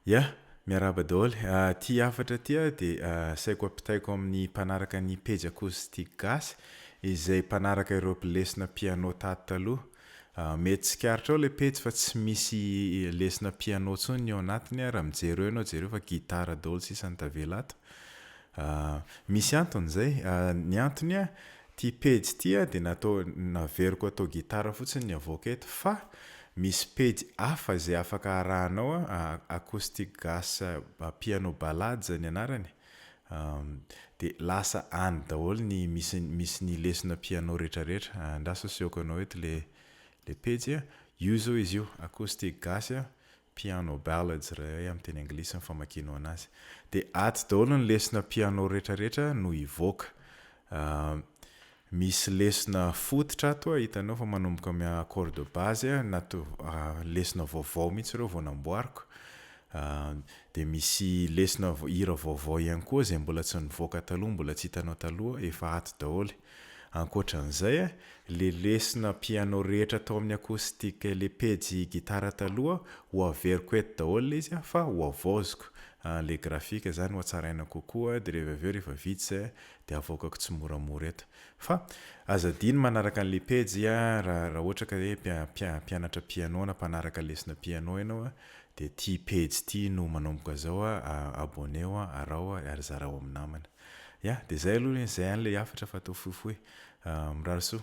Ya, miarahaba daholo. Ty hafatra ty aho dia asaiko ampitaiko amin'ny mpanaraka ny pejy Acoustique Gasy izay mpanaraka ireo lesona piano tato taloha. Mety tsikaritra ao ilay pejy fa tsy misy lesona piano intsony ny ao anatiny raha mijery eo ianao jereo fa gitara daholo sisa no tavela ato. Ah, misy antony izay. Ah, ny antony an, ity pejy ity an dia natao, naveriko atao gitara fotsiny ny havoaka eto fa misy pejy hafa izay afaka arahanao an, acoustic gas piano ballades ny anarany, ah, dia lasa any daholo ny misy, misy ny lesona piano rehetrarehetra. Andraso asehoko anao eto ilay, ilay pejy an. Io izao izy io, acoustic gas an, piano ballads ry ay amin'ny teny anglisy ny famakianao anazy. Dia atsy daholo ny lesona piano rehetra rehetra no hivoaka. Misy lesona fototra ato a, hitanao fa manomboka amin'ny accord de base a, nato- lesona vaovao mihitsy ireo vao namboariko. Dia misy lesona hira vaovao ihany koa izay mbola tsy nivoaka taloha, mbola tsy hitanao taloha, efa ato daholo e. Ankoatran'izay, ilay lesona piano rehetra tao amin'ny acoustique ilay pejy gitara taloha ho averiko eto daholo ilay izy fa ho havaoziko ilay graphique izany ho hatsaraina kokoa dia rehefa avy eo rehefa vita izay dia havoakako tsimoramora eto fa aza adino manaraka an'ilay pejy raha raha ohatra ka hoe mpianatra piano na mpanaraka lesona piano ianao dia ity pejy ity no manomboka izao abonneo araho ary zarao amin'ny namana. Ya, dia izay aloha anie izay any ilay hafatra fa atao fohifohy. Mirary soa.